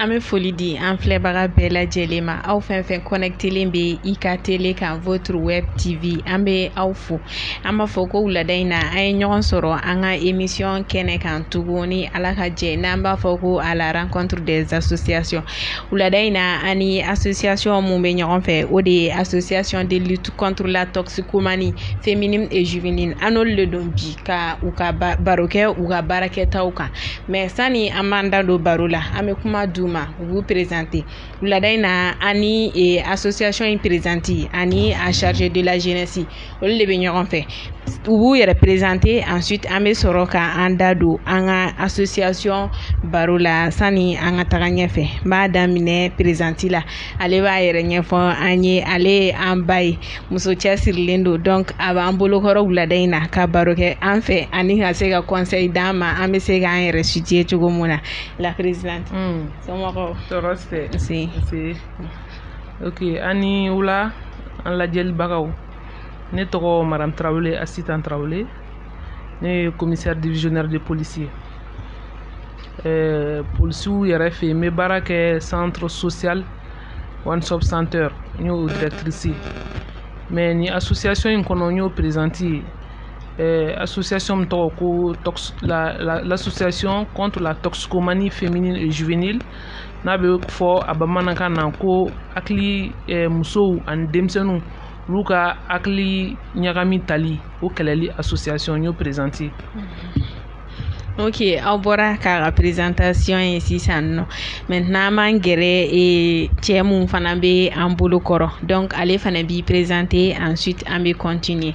an bɛ foli di an filɛbaga bɛɛ lajɛlen ma aw fɛn fɛn connectelen bɛ i ka tele kan votre web tv an bɛ aw fo an b'a fɔ ko wulada in na an ye ɲɔgɔn sɔrɔ an ka émission kɛnɛ kan tuguni ala ka jɛ n'an b'a fɔ ko à la rencontre des associations wulada in na an ni association mun bɛ ɲɔgɔn fɛ o de ye association de lutte contre la toxicomanie féminine et juvénile an n'olu de don bi ka u ka baro kɛ u ka baara kɛtaw kan mais sani an b'an da don baro la an bɛ kuma d'u ma u b'u présenter wulada in na an ni e, association in présidente ani a chargé de la jeunesse olu de bɛ ɲɔgɔn fɛ u b'u yɛrɛ présenter ensuite an bɛ sɔrɔ ka an da don an ka association baro la sani an ka taga ɲɛfɛ n b'a daminɛ présidente la ale b'a yɛrɛ ɲɛfɔ an ye ale ye an ba ye muso cɛsirilen don donc a b'an bolokɔrɔ wulada in na ka baro kɛ an fɛ ani ka se ka conseil d'an ma an bɛ se k'an yɛrɛ situer cogo min na la présidente hmm. ok aw ni wula an lajɛlibagaw ne tɔgɔ madame Traoré Assitan Traoré ne ye commissaire divisionnaire de police ye ɛɛ polisiw yɛrɛ fɛ yen n bɛ baara kɛ centre social one stop center n y'o directrice ye mais nin association in kɔnɔ n y'o présidente ye euh, association min tɔgɔ ko tox la la l'association contre la toxicomanie féminine et juvénile n'a bɛ fɔ a bamanankan na ko hakili euh, musow ani denmisɛnninw olu ka hakili ɲagami tali o kɛlɛli association n y'o présidente ye. ok aw bɔra k'a ka présentation ye sisan nɔ maintenant an b'an gɛrɛ e, cɛ mun fana bɛ an bolo kɔrɔ donc ale fana b'i présenter ensuite an bɛ continuer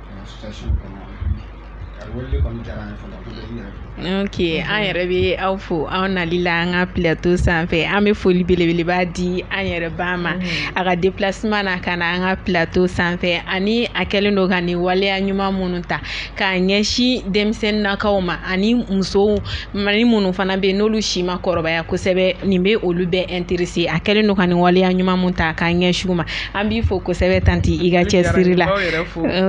ok an yɛrɛ bɛ aw fo aw nali la an ka plateau sanfɛ an bɛ foli belebeleba di an yɛrɛ ba ma mm. a ka déplacement na ka na an ka plateau sanfɛ ani a kɛlen don ka nin waleya ɲuman minnu ta k'a ɲɛsin denmisɛnninakaw ma ani musow ni minnu fana bɛ yen n'olu si ma kɔrɔbaya kosɛbɛ nin bɛ olu bɛɛ intéresser a kɛlen don ka nin waleya ɲuman mun ta k'a ɲɛsin ma an b'i fɔ kosɛbɛ tanti i ka cɛsiri la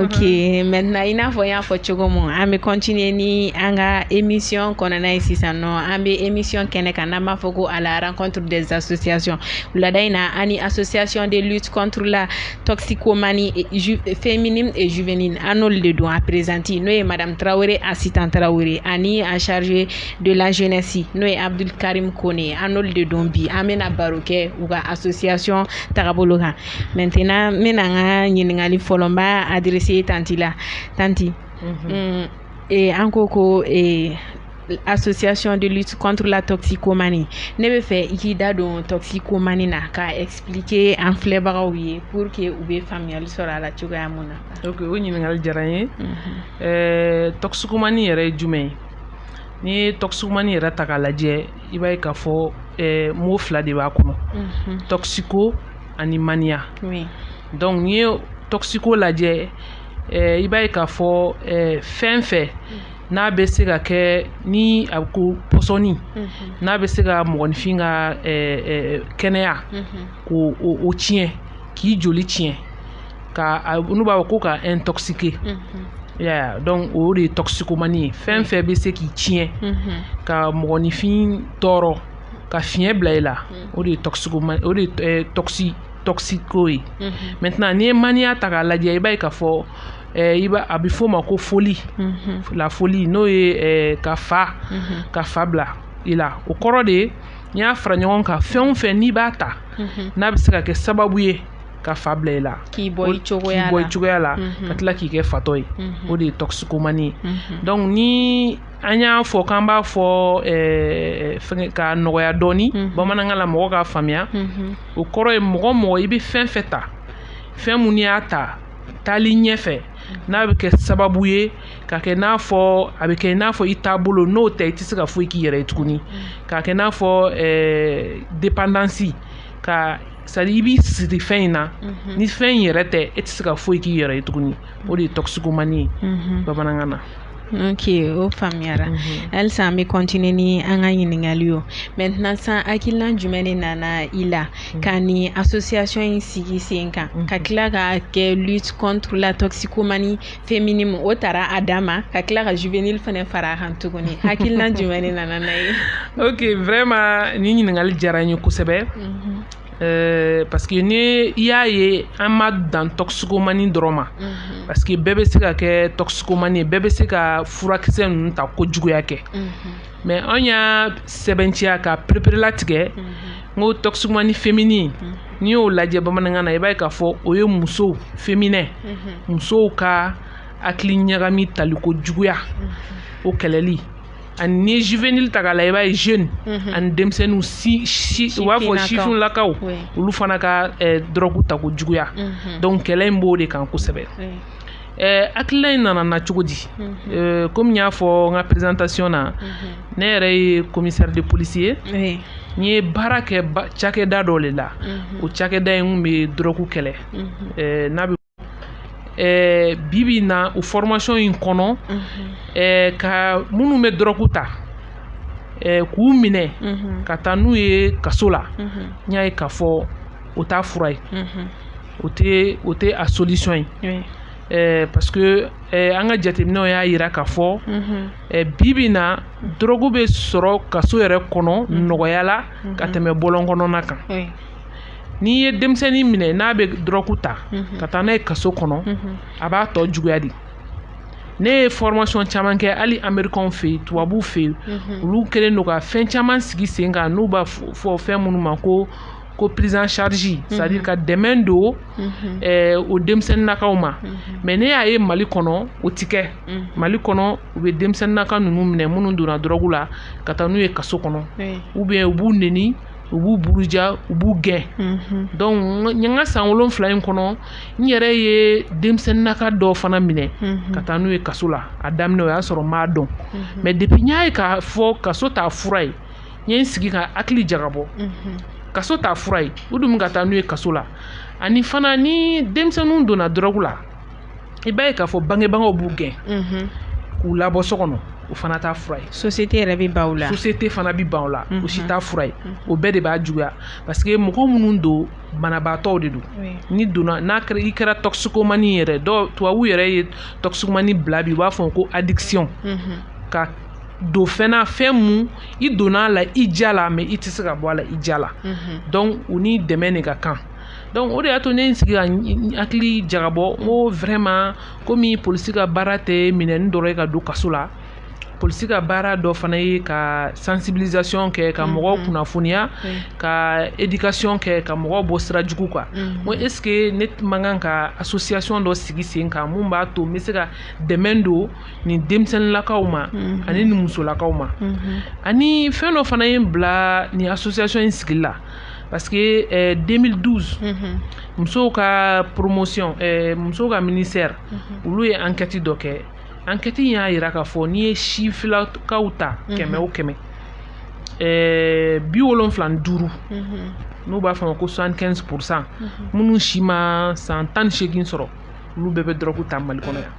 ok maintenant i n'a fɔ n y'a fɔ cogo min an bɛ continuer ni an ka émission kɔnɔna ye sisan nɔ an bɛ émission kɛnɛ kan n'an b'a fɔ ko à la rencontre des associations wulada in na an ni association de lutte contre la toxicomanie féminine et juvénile an n'olu de don a présidente n'o ye madame Tarawele Asitan Tarawele ani a chargé de la jeunesse n'o ye Abdul Karim Kone ye an n'olu de don bi an bɛna baro kɛ u ka association tagabolo kan maintenant n bɛna an ka ɲininkali fɔlɔ n b'a adresser tanti la tanti mm, ee, an ko ko ee, association de lutte contre la toxicomanie ne bɛ fɛ i k'i da don toxicomanie na k'a expliquer an filɛbagaw ye pour que u bɛ faamuyali sɔrɔ a la cogoya mun na. ok o ɲininkali diyara n ye ɛɛ toxicomanie yɛrɛ ye jumɛn ye n'i ye toxicomanie yɛrɛ ta k'a lajɛ i b'a ye k'a fɔ eh, mot fila de b'a kɔnɔ mhm. toxico ani mania donc n'i ye toxico lajɛ eh, i b'a ye k'a fɔ eh, fɛn fɛn mm. n'a bɛ se ka kɛ ni a ko pɔsɔni mhm. n'a bɛ se ka mɔgɔninfin ka kɛnɛya mhm. k'o tiɲɛ k'i joli tiɲɛ ka n'u b'a fɔ ko ka intoxiquer ya donc o de ye toxicomanie ye fɛn fɛn bɛ se k'i tiɲɛ ka mɔgɔninfin tɔɔrɔ ka fiɲɛ bila i la o de ye toxicomanie o de ye toxi toxico ye maintenant n'i ye mania ta k'a lajɛ i b'a ye k'a fɔ i b'a a bɛ f'o ma ko folie la folie n'o ye ka fa ka fa bila i la o kɔrɔ de ye n'i y'a fara ɲɔgɔn kan fɛn o fɛn n'i b'a ta n'a bɛ se ka kɛ sababu ye ka fa bila i la k'i bɔ i cogoya la ka tila k'i kɛ fatɔ ye o de ye toxicomanie ye donc ni an y'a fɔ k'an b'a fɔ k'a nɔgɔya dɔɔni bamanankan la mɔgɔ k'a faamuya o kɔrɔ ye mɔgɔ mɔgɔ i bɛ fɛn fɛn ta fɛn min n'i y'a ta taali ɲɛfɛ n'a bɛ kɛ sababu ye k'a kɛ n'a fɔ a bɛ kɛ i n'a fɔ i taabolo n'o tɛ i tɛ se ka foyi k'i yɛrɛ ye tuguni k'a kɛ n'a fɔ dépendance ka c'est-à-dire i b'i siri fɛn in na ni fɛn in yɛrɛ tɛ e tɛ se ka foyi k'i yɛrɛ ye tuguni o de ye toxicomanie ye bamanankan na ok o faamuyara halisa an bɛ continuer ni an ka ɲininkali ye maintenant san hakilina jumɛn de nana i la ka ni association in sigi sen kan ka tila k'a kɛ lutte contre la toxicomanie féminine o tara a dama ka tila ka juvénile fana fara a kan tuguni hakilina jumɛn de nana n'a ye ok vraiment ni ɲininkali diyara n ye kosɛbɛ mhm. euh, parce que ni i y'a ye an ma dan toxicomanie dɔrɔn ma mhm. parce que bɛɛ bɛ se ka kɛ toxicomanie ye bɛɛ bɛ se ka furakisɛ ninnu ta kojuguya kɛ mhm. mais an y'a sɛbɛnciya ka pereperela tigɛ n ko toxicomanie féminine n'i y'o lajɛ bamanankan na i b'a ye k'a fɔ o ye muso féminin musow ka hakili ɲagami taliko juguya o kɛlɛli ani ni juvénile ta k'a la i b'a ye jeune ani denmisɛnninw u b'a fɔ sifinlakaw olu fana ka dɔrɔgu tako juguya donc kɛlɛ in b'o de kan kosɛbɛ Eh, hakilina in nana cogo di mhm. eh, komi n y'a fɔ n ka présentation na mhm. ne yɛrɛ ye commissaire de police ye n ye baara kɛ cakɛda dɔ le la mhm. o cakɛda in kun bɛ dɔrɔku kɛlɛ eh, n'a bɛ eh, bi bi na o formation in kɔnɔ eh, ka minnu bɛ dɔrɔku ta eh, k'u minɛ ka taa n'u ye kaso la n y'a ye k'a fɔ o t'a fura ye. o tɛ o tɛ a solution ye. Oui. Eh, parce que eh, an ka jateminɛw y'a yira k'a fɔ mm -hmm. eh, bi bi na dɔrɔgu bɛ sɔrɔ kaso yɛrɛ kɔnɔ mm -hmm. nɔgɔya la mm -hmm. ka tɛmɛ bɔlɔn kɔnɔna kan oui. n'i ye denmisɛnnin minɛ n'a bɛ dɔrɔgu ta mm -hmm. ka taa n'a ye kaso kɔnɔ mm -hmm. a b'a tɔ juguya de ne ye formation caman kɛ hali amerikanw fɛ yen tubabuw fɛ yen olu kɛlen don ka fɛn caman sigi sen kan n'u b'a fɔ fɛn minnu ma ko ko prise en charge mhm. c'est à dire ka dɛmɛ don mhm. eh, o denmisɛnninakaw ma mhm. mais ne y'a ye mali kɔnɔ o ti kɛ mali kɔnɔ u bɛ denmisɛnninaka ninnu minɛ minnu donna dɔrɔgu la ka taa n'u ye kaso kɔnɔ ou bien u b'u neni u b'u buruja u b'u gɛn donc n ka san wolonfila in kɔnɔ n yɛrɛ ye denmisɛnninaka dɔw fana minɛ ka taa n'u ye kaso la a daminɛ o y'a sɔrɔ n m'a dɔn mais depuis n y'a ye k'a fɔ kaso t'a fura ye n ye n sigi ka hakili jagabɔ kaso t'a fura ye u dun bɛ ka taa n'u ye kaso la ani fana ni denmisɛnninw donna dɔrɔgu la i b'a ye k'a fɔ bangebagaw b'u gɛn k'u labɔ so kɔnɔ o fana t'a fura ye société yɛrɛ bɛ ban u la société fana bɛ ban u la o si t'a fura ye o bɛɛ de b'a juguya parce que mɔgɔ minnu don banabaatɔw de don n'i donna n'a kɛra i kɛra toxicomanie yɛrɛ dɔw tubabuw yɛrɛ ye toxicomanie bila bi u b'a fɔ ko addiction ka don fɛn na fɛn mun i donna a la i diya la mais i tɛ se ka bɔ a la i diya la donc u ni dɛmɛ de ka kan donc o de y'a to ne n sigi ka hakili jagabɔ n ko vraiment komi polisi ka baara tɛ minɛni dɔrɔn ye ka don kaso la polisi ka baara dɔ fana ye ka sensibilisation kɛ ka mɔgɔw kunnafoniya ka éducation kɛ ka mɔgɔw bɔ sira jugu kan n ko est ce que ne man kan ka association dɔ sigi sen kan mun b'a to n bɛ se ka dɛmɛ don nin denmisɛnninlakaw ma mhm. ani nin musolakaw ma mhm. ani fɛn dɔ fana ye n bila nin association in sigili la parce que eh, 2012 mhm. musow ka promotion eh, musow ka ministère olu ye enquête dɔ kɛ enquête in y'a yira k'a fɔ n'i ye sifilakaw ta kɛmɛ o kɛmɛ eh, bi wolonfila ni duuru n'u b'a f'a ma ko 75 pourcent minnu si ma san tan ni seegin sɔrɔ olu bɛɛ bɛ dɔrɔgu ta mali kɔnɔ yan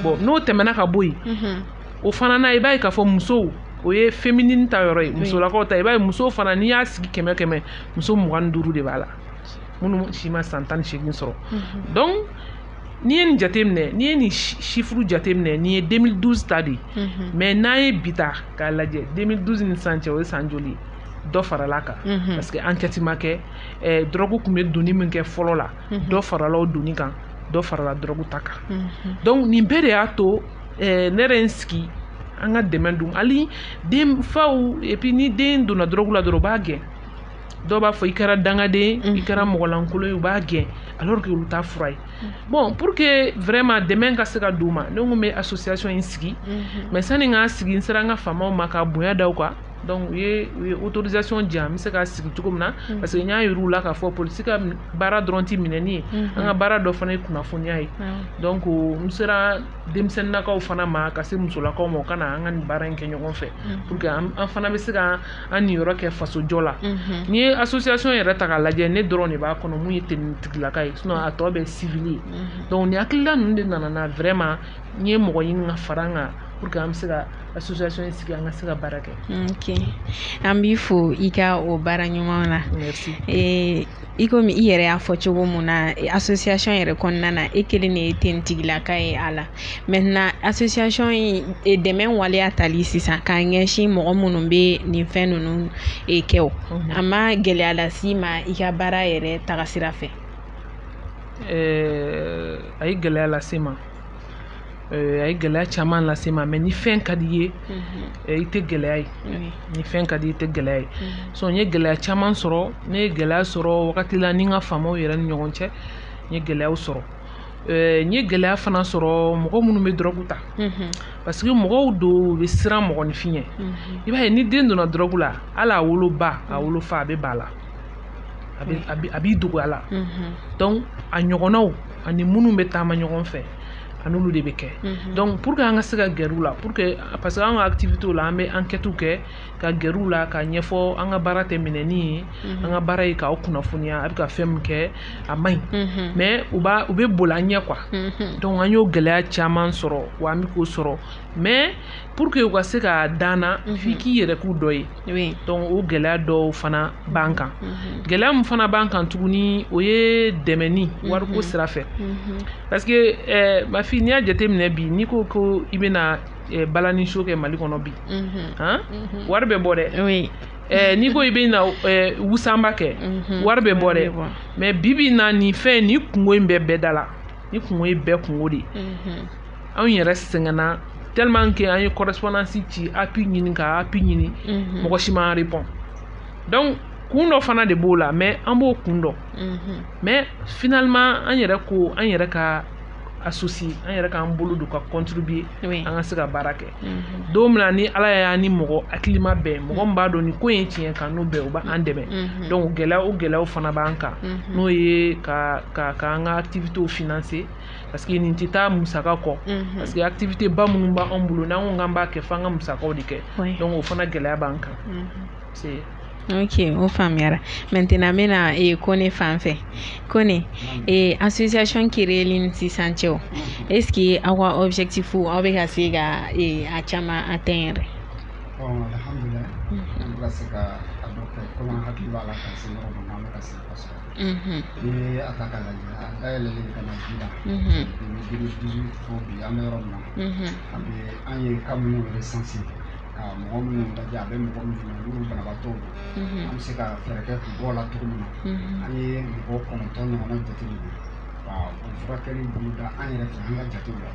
bon n'o tɛmɛna ka bɔ yen o fana na i b'a ye k'a fɔ musow o ye féminine ta yɔrɔ ye musolakaw ta i b'a ye musow fana n'i y'a sigi kɛmɛ kɛmɛ muso mugan ni duuru de b'a la minnu si ma san tan ni seegin sɔrɔ donc n'i ye nin jateminɛ n'i ye nin chiffre jateminɛ nin ye 2012 ta de ye mais n'an ye bi ta k'a lajɛ 2012 ni sisan cɛ o ye san joli ye dɔ farala kan parce que enquête ma kɛ dɔrɔgu tun bɛ donni min kɛ fɔlɔ la mhm. dɔ farala o donni kan dɔ farala dɔrɔgu ta kan mhm. donc nin bɛɛ de y'a to eh, ne yɛrɛ n sigi an ka dɛmɛ don hali den faw et puis ni den donna dɔrɔgu la dɔrɔn u b'a gɛn dɔw b'a fɔ i kɛra dangaden i kɛra mɔgɔlankolon ye u b'a gɛn alors que olu t'a fura ye bon pour que vraiment dɛmɛ ka se ka d'u ma ne ko n bɛ association in sigi mais sani n k'a sigi n sera n ka faamaw ma ka bonya da u kan donc u ye u ye autorisation di yan n bɛ se k'a sigi cogo min na mm. parce que n y'a yir'u la k'a fɔ polisi ka baara dɔrɔn tɛ minɛni ye mm-hmm. an ka baara dɔ fana ye kunnafoniya ye mm. donc n sera denmisɛnninakaw fana ma ka se musolakaw ma u ka na an ka nin baara in kɛ ɲɔgɔn fɛ mm. pour que an fana bɛ se ka an niyɔrɔ kɛ fasojɔ la mm-hmm. n'i ye association yɛrɛ ta k'a lajɛ ne dɔrɔn de b'a kɔnɔ mun ye tenitigilaka ye sinon a tɔ bɛɛ civil ye mm-hmm. donc nin hakilila ninnu de nana na vraiment n ye mɔgɔ ɲini ka fara n kan pour que an bɛ se ka ka association in sigi an ka se ka baara kɛ ok an b'i fo i ka o baara ɲuman na merci i komi i yɛrɛ y'a fɔ cogo min na association yɛrɛ kɔnɔna na e kelen de ye tenitigilaka ye a la maintenant association in dɛmɛ waleya tali sisan k'a ɲɛsin mɔgɔ minnu bɛ nin fɛn ninnu e kɛ o a ma gɛlɛya las'i ma i ka baara yɛrɛ tagasira fɛ a ye gɛlɛya lase n ma a ye gɛlɛya caman lase n ma mais ni fɛn ka d'i ye i tɛ gɛlɛya ye ni fɛn ka d'i ye i tɛ gɛlɛya ye so n ye gɛlɛya caman sɔrɔ ne ye gɛlɛya sɔrɔ wagati la ni n ka faamaw yɛrɛ ni ɲɔgɔn cɛ n ye gɛlɛyaw sɔrɔ n ye gɛlɛya fana sɔrɔ mɔgɔ minnu bɛ dɔrɔgu ta parce que mɔgɔw don u bɛ siran mɔgɔninfin ɲɛ i b'a ye ni den donna dɔrɔgu la hali a woloba a wolofa a bɛ ban a la a b'i dogo a la donc a ɲɔgɔnnaw ani minnu bɛ taama ɲɔgɔn fɛ an'olu de bɛ kɛ donc pour que an ka se ka gɛrɛ u la pour que parce que an ka activitéw la an bɛ enquêtew kɛ ka gɛrɛ u la k'a ɲɛfɔ an ka baara tɛ minɛni ye an ka baara ye k'aw kunnafoniya a bɛ ka fɛn min kɛ a man ɲi mais u u bɛ boli an ɲɛ quoi donc an y'o gɛlɛya caman sɔrɔ wa an bɛ k'o sɔrɔ mais pour que u ka se ka da an na mhm. f'i k'i yɛrɛ k'u dɔ ye donc o gɛlɛya dɔw fana b'an kan mhm. gɛlɛya min fana b'an kan tuguni o ye dɛmɛni mhm. wariko sira fɛ parce que eh, ma fille n'i y'a jateminɛ bi n'i ko ko i bɛna eh, balani show kɛ mali kɔnɔ bi han wari bɛ bɔ dɛ Eh, n'i ko i bɛna eh, wusanba kɛ mhm. wari bɛ bɔ dɛ mais bi bi in na nin fɛn nin kungo in bɛ bɛɛ da la nin kungo ye bɛɛ kungo de ye mhm. anw yɛrɛ sɛgɛnna tellement que an ye correspondance ci appui ɲini ka appui ɲini mhm. mɔgɔ si ma répond donc kun dɔ fana de b'o la mais an b'o kun dɔn mhm. mais finalement an yɛrɛ ko an yɛrɛ ka associé an yɛrɛ k'an bolo don ka contribuer an ka se ka baara kɛ mhm. don min na ni ala y'an ni mɔgɔ hakilima bɛn mɔgɔ min b'a dɔn nin ko ye tiɲɛ k'an n'o bɛn o b'an dɛmɛ mhm. donc gɛlɛya o gɛlɛyaw fana b'an kan mhm. n'o ye ka ka k'an ka activités financer parce que nin tɛ taa musaka kɔ mhm. parce que activité ba minnu b'an bolo n'an ko k'an b'a kɛ f'an ka musakaw de kɛ donc o fana gɛlɛya b'an kan mhm. ok o faamuyara maintenant n bɛna e, kone fan fɛ kone e, association créeli ni sisan cɛ o est ce que aw ka objectif aw bɛ ka se ka e, a caman atteindre alhamdulilayi an bɛ ka se ka a dɔ kɛ komi an hakili b'a la ka se yɔrɔ min na an bɛ ka se kosɛbɛ i ye a ta k'a lajɛ a dayɛlɛlen ka na ji la duuru fo bi an bɛ yɔrɔ min na an bɛ an ye cas minnu recensé ka mɔgɔ minnu lajɛ a bɛ mɔgɔ minnu na n'olu banabaatɔw don an bɛ se ka fɛɛrɛ kɛ k'u bɔ a la cogo min na an ye mɔgɔ kɔnɔntɔn ɲɔgɔnna jateminɛ ka o furakɛli boloda an yɛrɛ fɛ an ka jatew la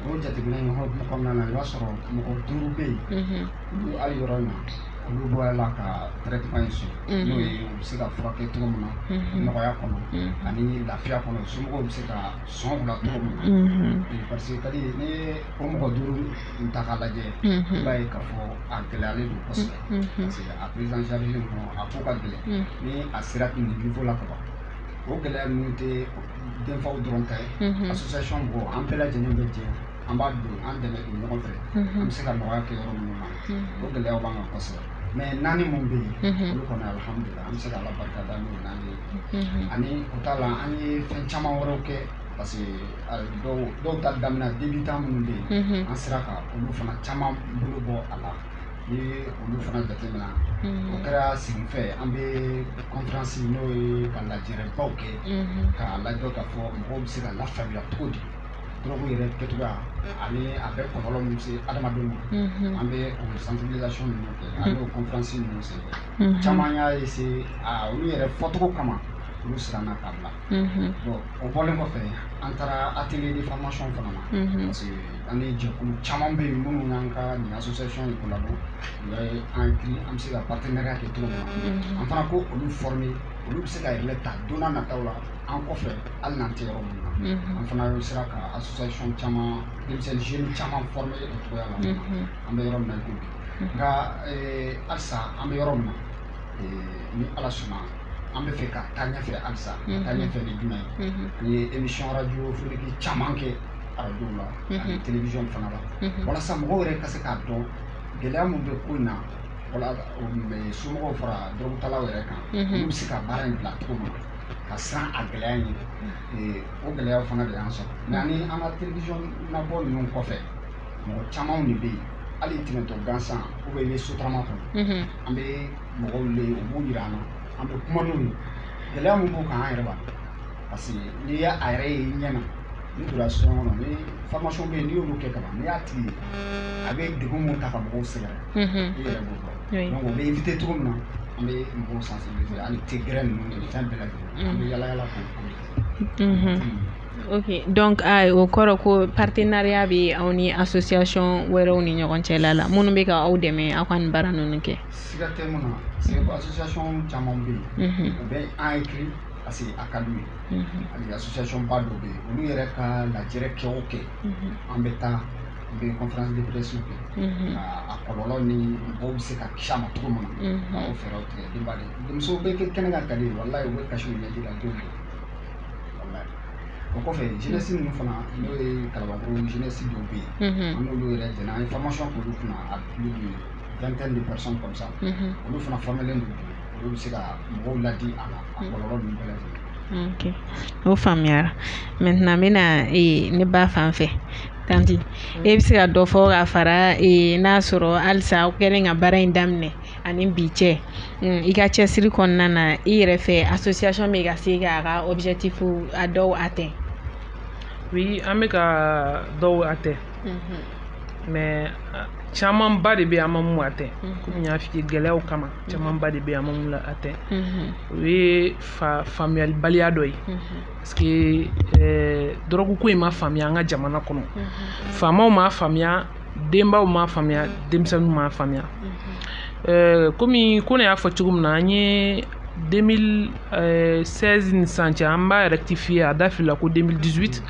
o jateminɛ in hokumu kɔnɔna na i b'a sɔrɔ mɔgɔ duuru bɛ yen Hali yɔrɔ in na olu bɔra a la ka traitement in sɔrɔ n'o ye u bɛ se ka furakɛ cogo min na nɔgɔya kɔnɔ ani lafiya kɔnɔ somɔgɔw bɛ se ka sɔn u la cogo min na parce que kadi ni o mɔgɔ duuru in ta k'a lajɛ i b'a ye k'a fɔ a gɛlɛyalen don kosɛbɛ parce que a prise en charge kɔnɔ a ko ka gɛlɛn ni a sera nin niveau la ka ban o gɛlɛya ninnu tɛ denfaw dɔrɔn ta ye association mɔgɔw an bɛɛ lajɛlen bɛ jɛ an b'a don an dɛmɛ don ɲɔgɔn fɛ an bɛ se ka nɔgɔya kɛ yɔrɔ minnu na o gɛlɛyaw b'an kan kosɛbɛ mais naani min bɛ yen olu kɔni alihamudulila an bɛ se ka ala barika da n'o naani ye ani o t'a la an ye fɛn caman wɛrɛw kɛ parce que dɔrɔgu ta daminɛ débutant minnu bɛ yen an sera ka olu fana caman bolo bɔ a la ni olu fana jatemina o kɛra sigifɛ an bɛ conférence n'o ye ka lajɛrɛbaw kɛ k'a lajɛ k'a fɔ mɔgɔw bɛ se ka lafaamuya cogo di dɔrɔgu yɛrɛ kɛcogoya ani a bɛ kɔlɔlɔ min se adamadenw ma an bɛ o sensibilisation ninnu kɛ an bɛ o conférence ninnu sen fɛ caman y'a essayer olu yɛrɛ fɔcogo kama olu siranna k'a bila bon o bɔlen kɔfɛ an taara atelier de formation fana na parce que an ni jɛkulu caman bɛ yen minnu n'an ka nin association in collabo u y'a ye an hakili an bɛ se ka partenariat kɛ cogo min na an fana ka olu former olu bɛ se ka relais ta don nataw la an kɔfɛ hali n'an tɛ yɔrɔ min na an fana sera ka association caman denmisɛnnin jeunes caman former o cogoya la an bɛ yɔrɔ min na i ko bi nka halisa an bɛ yɔrɔ min na ni ala sɔnna an b'a fɛ ka taa ɲɛfɛ halisa ka taa ɲɛfɛ ni jumɛn ye an ye émission radiophonique caman kɛ radio la ani télévision fana la walasa mɔgɔw yɛrɛ ka se k'a dɔn gɛlɛya min bɛ ko in na wala somɔgɔw fara dɔrɔgutalaw yɛrɛ kan olu bɛ se ka baara in bila cogo min na ka siran a gɛlɛya ɲɛ, o gɛlɛya fana de y'an sɔrɔ mais ani an ka télévision nabɔ ninnu kɔfɛ mɔgɔ camanw de bɛ yen hali tɛmɛtɔ gansan ou bien i bɛ sotarama kɔnɔ mhm. an bɛ mɔgɔw le u b'u yira an na an bɛ kuma n'u ye gɛlɛya min b'u kan an yɛrɛ b'a dɔn parce que n'i y'a yɛrɛ ye i ɲɛ na n'i donna so kɔnɔ ni formation bɛ yen n'i y'olu kɛ kaban n'i y'a tigi ye a bɛ degun min ta ka mɔgɔw sɛgɛrɛ mhm. i yɛrɛ b'o dɔn donc o bɛ éviter cogo min na an bɛ mɔgɔw sensibiliser hali te gɛrɛn ninnu ni fɛn bɛɛ lajɛlen an bɛ yala yala k'o ok donc a o kɔrɔ ko partenariat bɛ aw ni association wɛrɛw ni ɲɔgɔn cɛla la minnu bɛ ka aw dɛmɛ aw ka nin baara ninnu kɛ. siga tɛ min na c'est que association caman bɛ yen. u bɛ an écrit parce que a ka d'u ye. hali association ba dɔ bɛ yen olu yɛrɛ ka lajɛrɛ kɛ o kɛ an bɛ taa. bɛ conférence de presse kɛ ka a kɔlɔlɔ ni mɔgɔw bɛ se ka kisi a ma cogo min na ka o fɛɛrɛw tigɛ denba de denmuso bɛ kɛ kɛnɛ kan tali ye walayi u bɛ kasi u ɲɛji la don walayi o kɔfɛ jeunesse ninnu fana n'o ye kalabankɔrɔ jeunesse dɔw bɛ yen an n'olu yɛrɛ jɛnna an ye formation k'olu kunna à plus de vingtaine de personnes comme ça olu fana formélen don olu bɛ se ka mɔgɔw ladi a la a kɔlɔlɔ ninnu bɛɛ lajɛlen ok o faamuyara maintenant n bɛna ee ne ba fan fɛ tanti e bɛ se ka dɔ fɔ ka fara ee n'a sɔrɔ halisa aw kɛlen ka baara in daminɛ ani bi cɛ mm, i ka cɛsiri kɔnɔna na i yɛrɛ fɛ association bɛ ka se k'a ka objectif a dɔw atteint oui an bɛ ka dɔw atteint mais camanba de bɛ an ma mun atteint kɔmi n y'a f'i ye gɛlɛyaw kama camanba de bɛ an ma mun atteint o ye faamuyalibaliya dɔ ye parce que dɔrɔgu ko in ma faamuya an ka jamana kɔnɔ faamaw m'a faamuya denbaw m'a faamuya denmisɛnninw m'a faamuya kɔmi ko ne y'a fɔ cogo min na an ye 2016 ni sisan cɛ an b'a rectifier a da filila ko 2018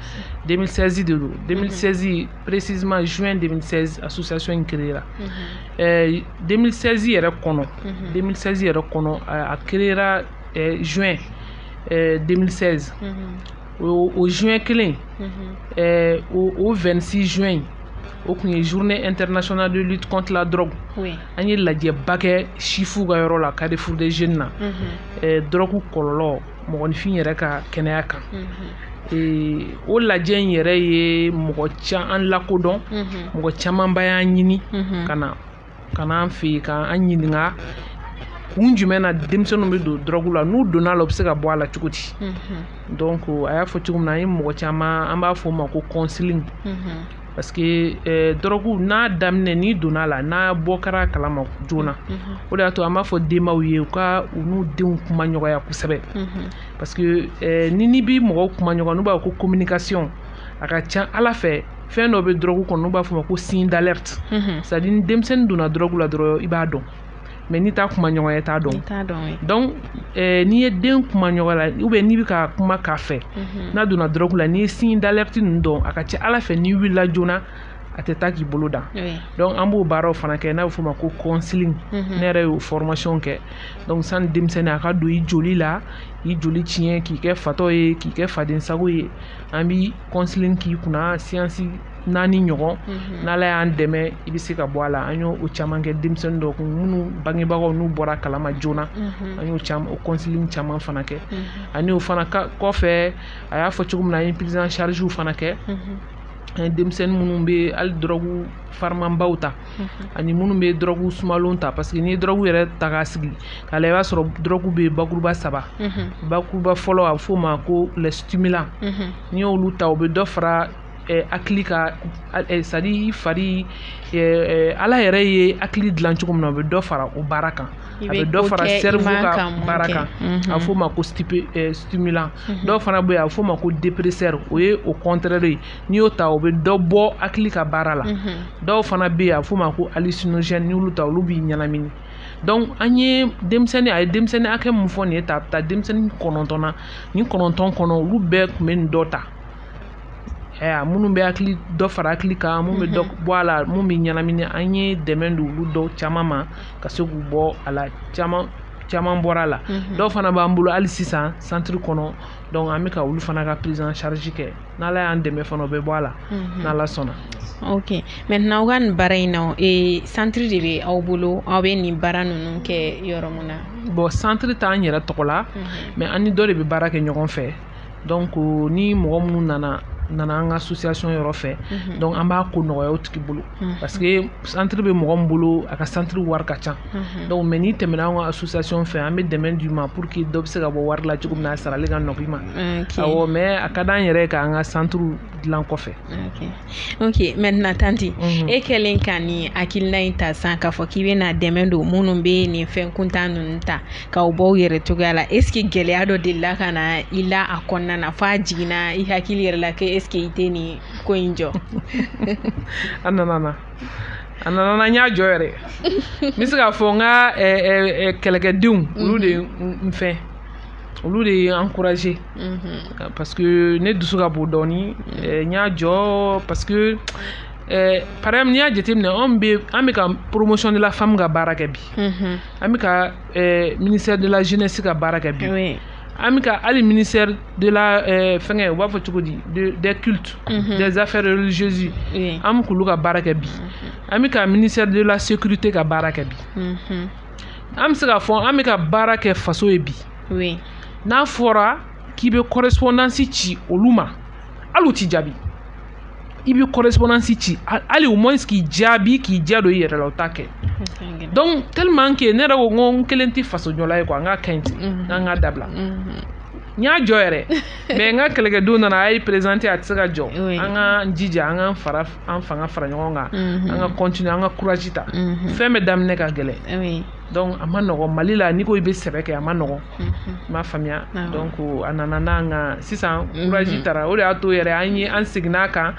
2016 de don 2016 précisément juin 2016 association in créera 2016 yɛrɛ kɔnɔ 2016 yɛrɛ kɔnɔ a créera juin 2016 o juin kelen o 26 juin o kun ye journée internationale de lutte contre la drogue an ye lajɛba kɛ sifu ka yɔrɔ la carrefour des jeunes na drogue kɔlɔlɔ mɔgɔninfin yɛrɛ ka kɛnɛya kan o lajɛ in yɛrɛ ye mɔgɔ caman an lakodɔn mɔgɔ camanba y'an ɲini ka na ka n'an fɛ yen ka an ɲininka kun jumɛn na denmisɛnninw bɛ don dɔrɔgu la n'u donna la u bɛ se ka bɔ a la cogo di donc a y'a fɔ cogo min na an ye mɔgɔ caman an b'a fɔ o ma ko counseling parce que eh, dɔrɔgu n'a daminɛ n'i donna la n'a bɔ kɛra kalama joona mhm. o de y'a to an b'a fɔ denbaw ye u ka u n'u denw kuma ɲɔgɔnya kosɛbɛ mhm. parce que eh, ni n'i bi mɔgɔw kuma ɲɔgɔnya n'u b'a fɔ ko communication a ka ca a la fɛ fɛn dɔ bɛ dɔrɔgu kɔnɔ n'u b'a f'a ma ko signe d'alerte mhm. c'est à dire ni denmisɛnnin donna dɔrɔgu la dɔrɔn i b'a dɔn mais n'i t'a kuma ɲɔgɔnya i t'a dɔn donc eh, n'i ye den kuma ɲɔgɔn la ou bien n'i bɛ ka kuma k'a fɛ mhm. n'a donna dɔrɔgu la n'i ye signe d'alerte ninnu dɔn a ka ca a la fɛ n'i wulila joona a tɛ taa k'i bolo dan donc an b'o baaraw fana kɛ n'a bɛ f'o ma ko counseling mhm. ne yɛrɛ y'o formation kɛ donc sani denmisɛnnin a ka don i joli la i joli tiɲɛ k'i kɛ fatɔ ye k'i kɛ fadensago ye an bi counseling k'i kunna séance naani ɲɔgɔn mhm. n'ala y'an dɛmɛ i bɛ se ka bɔ a la an y'o o caman kɛ denmisɛnnin dɔw kun minnu bangebagaw n'u bɔra kalama joona mhm. an y'o caman o counseling caman fana kɛ mhm. ani o fana kɔfɛ a y'a fɔ cogo min na an ye prise en charge fana kɛ an ye denmisɛnnin minnu bɛ hali dɔrɔgu farimanbaw ta ani minnu bɛ dɔrɔgu sumalenw ta parce que n'i ye dɔrɔgu yɛrɛ ta k'a sigi k'a lajɛ i b'a sɔrɔ dɔrɔgu bɛ bakuruba saba bakuruba fɔlɔ a bɛ f'o ma ko les stimulants n'i y'olu ta o bɛ dɔ fara eh, hakili ka eh, c'est-à-dire fari eh, eh, ala yɛrɛ ye hakili dilan cogo min na o bɛ dɔ fara o baara kan a bɛ dɔ fara cerveau ka baara kan mhm. a fɔ ma ko eh, stimulant mhm. dɔw fana bɛ yen a bɛ fɔ ma ko dépresseur o ye o contraire ye n'i y'o ta o bɛ dɔ bɔ hakili ka baara la mhm. dɔw fana bɛ yen a bɛ fɔ ma ko hallucinogène n'i y'olu ta olu b'i ɲɛnamini donc an ye denmisɛnnin a ye denmisɛnnin hakɛ min fɔ nin ye ta a bɛ taa denmisɛnnin kɔnɔntɔn na nin kɔnɔntɔn kɔnɔ olu bɛɛ tun bɛ nin dɔ ta ɛ minnu bɛ hakili dɔ fara hakili kan minnu bɛ dɔ mhm. bɔ a la minnu bɛ ɲɛnamini an ye dɛmɛ don olu dɔw caman ma ka se k'u bɔ a la caman caman bɔra a la mhm. dɔw fana b'an bolo hali sisan centre kɔnɔ donc an bɛ ka olu fana ka prise en charge kɛ n'ala y'an dɛmɛ fana o bɛ bɔ a la mhm. n'ala sɔnna ok maintenant aw ka nin baara in na ee centre de bɛ aw bolo aw bɛ nin baara ninnu kɛ yɔrɔ min na bon centre t'an yɛrɛ tɔgɔ la mais an ni dɔ de bɛ baara kɛ ɲɔgɔn fɛ ni mɔgɔ minnu nana nana an ka association yɔrɔ fɛ donc an b'a ko nɔgɔya o tigi bolo parce que centre bɛ mɔgɔ min bolo a ka centre wari ka ca donc mais n'i tɛmɛna an ka association fɛ an bɛ dɛmɛ d'i ma pour que dɔ bɛ se ka bɔ wari la cogo min na a sarali ka nɔgɔ i ma mais a ka di an yɛrɛ k'an ka centre dilan kɔfɛ ok maintenant tanti e kɛlen ka nin hakilina in ta sa k'a fɔ k'i bɛna dɛmɛ don minnu bɛ nin fɛn kuntan ninnu ta k'u bɔ u yɛrɛ cogoya la est-ce que gɛlɛya dɔ delila ka na i la a kɔnɔna na f'a jiginna i hakili yɛrɛ la ko est-ce que i tɛ nin ko in jɔ a nana na a nana na n y'a jɔ yɛrɛ n bɛ se k'a fɔ n ka kɛlɛkɛdenw olu de n fɛn olu de ye n encourager mhm. parce que ne dusu ka bon dɔɔni n y'a jɔ parce que par exemple n'i y'a jateminɛ anw bɛ an bɛ ka promotion de la femme ka baara kɛ bi. Mhm. an bɛ ka eh, ministère de la jeunesse ka baara kɛ bi Oui. an bɛ ka hali ministère de la eh, fɛngɛ u b'a fɔ cogo di de- des cultes Mhm. des affaires religieuses Oui. an bɛ k'olu ka baara kɛ bi an bɛ ka ministère de la sécurité ka baara kɛ bi Mhm. an bɛ se k'a fɔ an bɛ ka baara kɛ faso ye bi Oui. n'a fɔra k'i bɛ correspondance ci olu ma hali u t'i jaabi i bɛ correspondance ci hali au moins k'i jaabi k'i diya don i yɛrɛ la u t'a kɛ donc tellement que ne yɛrɛ ko n ko n kelen tɛ fasojɔla ye quoi n ka kɛ ten n k'an k'a dabila n y'a jɔ yɛrɛ mais n ka kɛlɛkɛdenw nana a ye présenter a tɛ se ka jɔ an ka jija an ka fara an fanga fara ɲɔgɔn kan an ka continuer an ka courage ta fɛn bɛɛ daminɛ ka gɛlɛn donc a ma nɔgɔ mali la n'i ko i bɛ sɛbɛ kɛ a ma nɔgɔ i m'a faamuya donc a nana n'an ka sisan courage tara o de y'a to yɛrɛ an ye an seginna a kan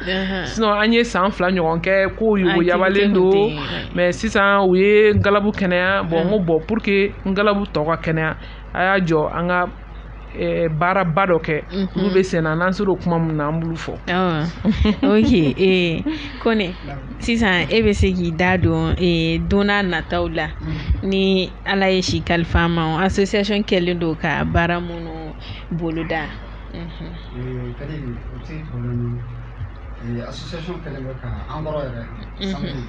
sinon an ye san fila ɲɔgɔn kɛ ko yogoyabalen don mais sisan u ye n galabu kɛnɛya bon n ko bon pour que n galabu tɔ ka kɛnɛya a y'a jɔ an ka Eh, baaraba dɔ kɛ mhm. olu bɛ sen na n'an sera o kuma min na an b'olu fɔ ok eh, kɔni sisan e bɛ se k'i da don eh, don n'a nataw la mhm. ni ala ye si kalifa an ma association kɛlen don ka baara minnu boloda mhm. association kɛlen bɛ ka an kɔrɔ yɛrɛ samedi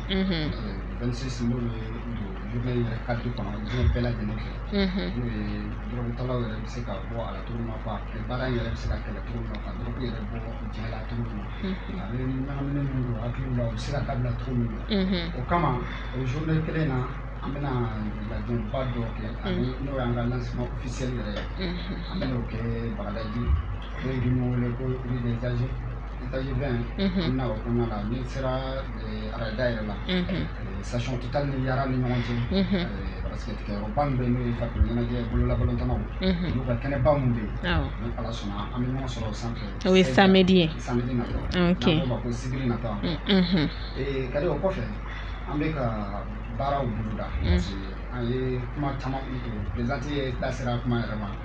26 n'o ye journée yɛrɛ cadre kɔnɔ diɲɛ bɛɛ lajɛlen fɛ n'o ye dɔrɔgutalaw yɛrɛ bɛ se ka bɔ a la cogo min na quoi ani baara in yɛrɛ bɛ se ka kɛlɛ cogo min na ka dɔrɔgu yɛrɛ bɔ diɲɛ la cogo min na a bɛ ɲagamini min don hakiliw la o bɛ se ka dabila cogo min na o kama o journée kelen na an bɛna lajɛba dɔ kɛ ani n'o y'an ka lancement officiel yɛrɛ ye an bɛn'o kɛ Bagadaji n'o ye min wele ko rue des Âges étage 20 an bɛna o kɔnɔna la n'i sera Railda yɛrɛ la station Total ni Yara ni ɲɔgɔn cɛ parce que tigɛyɔrɔba min bɛ yen n'o ye farikolo ɲɛnajɛ bololabalontannaw olu ka kɛnɛba min bɛ yen ni ala sɔnna an bɛ ɲɔgɔn sɔrɔ o sanfɛ o ye samedi ye samedi nata n'an k'o ma ko sibiri nata ka di o kɔfɛ an bɛ ka baaraw boloda An ye kuma caman présidente yɛrɛ da sera kuma yɛrɛ ma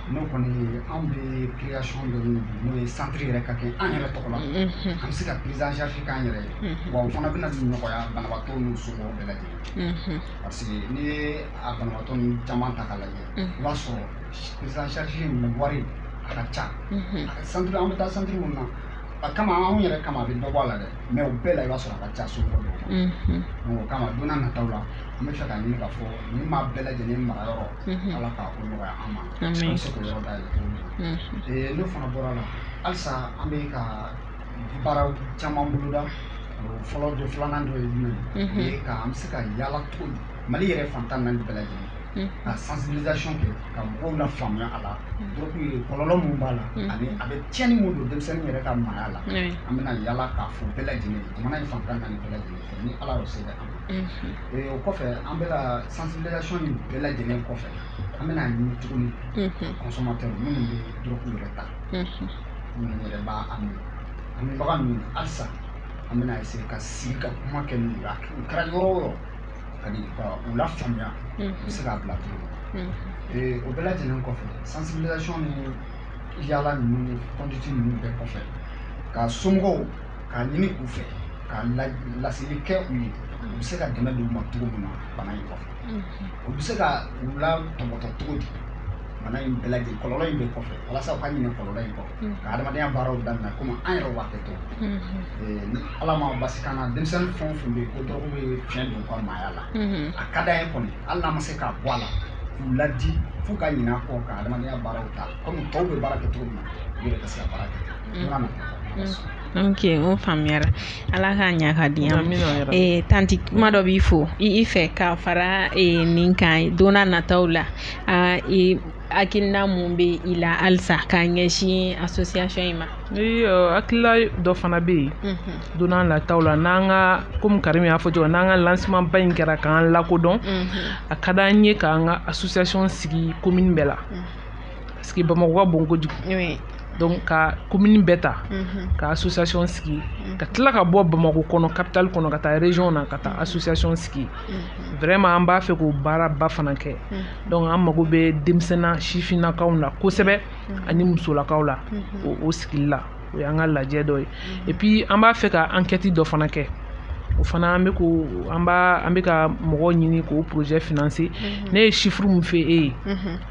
n'o kɔni an bɛ création dɔ ɲini n'o ye centre yɛrɛ ka kɛ an yɛrɛ tɔgɔ la an bɛ se ka prise en charge k'an yɛrɛ ye wa o fana bɛna nɔgɔya banabaatɔ n'u somɔgɔw bɛɛ lajɛlen parce que n'i ye a banabaatɔ ninnu caman ta k'a lajɛ i b'a sɔrɔ prise en charge in wari a ka ca centre an bɛ taa centre minnu na a kama anw yɛrɛ kama a bɛ dɔ bɔ a la dɛ mais o bɛɛ la i b'a sɔrɔ a ka ca somɔgɔ dɔw ma donc o kama don n'a nataw la an bɛ fɛ k'a ɲini k'a fɔ ni maa bɛɛ lajɛlen mara yɔrɔ mhm. ala k'a ko nɔgɔya an ma an bɛ se k'o yɔrɔ dayɛlɛ cogo min na mhm. n'o fana bɔra la halisa an bɛ ka baara caman boloda fɔlɔ dɔ filanan dɔ ye jumɛn ye mhm. o ye ka an bɛ se ka yaala cogo di mali yɛrɛ fan tan naani bɛɛ lajɛlen ka sensibilisation kɛ ka mɔgɔw lafaamuya a la donc kɔlɔlɔ mun b'a la ani a bɛ tiɲɛni mun don denmisɛnnin yɛrɛ ka maaya la an bɛna yaala k'a fɔ bɛɛ lajɛlen jamana in fan tan naani bɛɛ lajɛlen fɛ ni ala y'o se kɛ an ma o kɔfɛ an bɛ ka sensibilisation in bɛɛ lajɛlen kɔfɛ an bɛna a ɲini tuguni consommateur minnu bɛ dɔrɔgu yɛrɛ ta minnu yɛrɛ b'a min a minbaga ninnu halisa an bɛna essayer ka sigi ka kuma kɛ n'u ye a kɛ- u kɛra yɔrɔ o yɔrɔ ka di ka u lafaamuya u bɛ se k'a bila cogo min Ee, o bɛɛ lajɛlen kɔfɛ sensibilisation ni yaala ninnu ni conduite ninnu bɛɛ kɔfɛ ka somɔgɔw k'a ɲini u fɛ ka laseli kɛ u ye u bɛ se ka dɛmɛ don u ma cogo min na bana in kɔfɛ u bɛ se ka u latɔpɔtɔ cogo di bana in bɛɛ lajɛlen kɔlɔlɔ in bɛɛ kɔfɛ walasa u ka ɲinɛ kɔlɔlɔ in kɔ ka adamadenya baaraw daminɛ komi an yɛrɛ b'a kɛ to ni ala ma basi k'an na denmisɛnnin fɛn o fɛn bɛ yen ko dɔrɔgu bɛ fiɲɛ don u ka maaya la a ka d'an ye kɔni hali n'an ma se k'a bɔ a la k'u ladi f'u ka ɲinɛ a kɔ ka adamadenya baaraw ta kɔmi tɔw bɛ baara kɛ cogo min na u yɛrɛ ka se ka baara kɛ mm. ok o faamuyara ala k'a ɲa k'a diya eh, tanti kuma dɔ b'i fo i fɛ ka fara eh, nin kan donna nataw la ah, hakilina mun bɛ i la halisa k'a ɲɛsin association in ma iyo hakilila dɔ fana bɛ yen mhm. don n'a nataw la n'an ka komi karimi y'a fɔ cogo n'an ka lancement ba in kɛra k'an lakodɔn mhm. a ka d'an ye k'an ka association sigi commune bɛɛ la mhm. parce que bamakɔ ka bon kojugu donc ka komini bɛɛ ta mhm. ka association sigi mhm. ka tila ka bɔ bamakɔ kɔnɔ capital kɔnɔ ka taa région na ka taa mhm. association sigi vraiment an b'a fɛ k'o baara ba fana kɛ donc an mago bɛ denmisɛnna sifinnakaw la kosɛbɛ ani musolakaw la o sigili la o y'an ka lajɛ dɔ ye et puis an b'a fɛ ka enquête dɔ fana kɛ o fana an bɛ ko an b'a an bɛ ka mɔgɔw ɲini k'o projet financer ne ye chiffre min fɔ e ye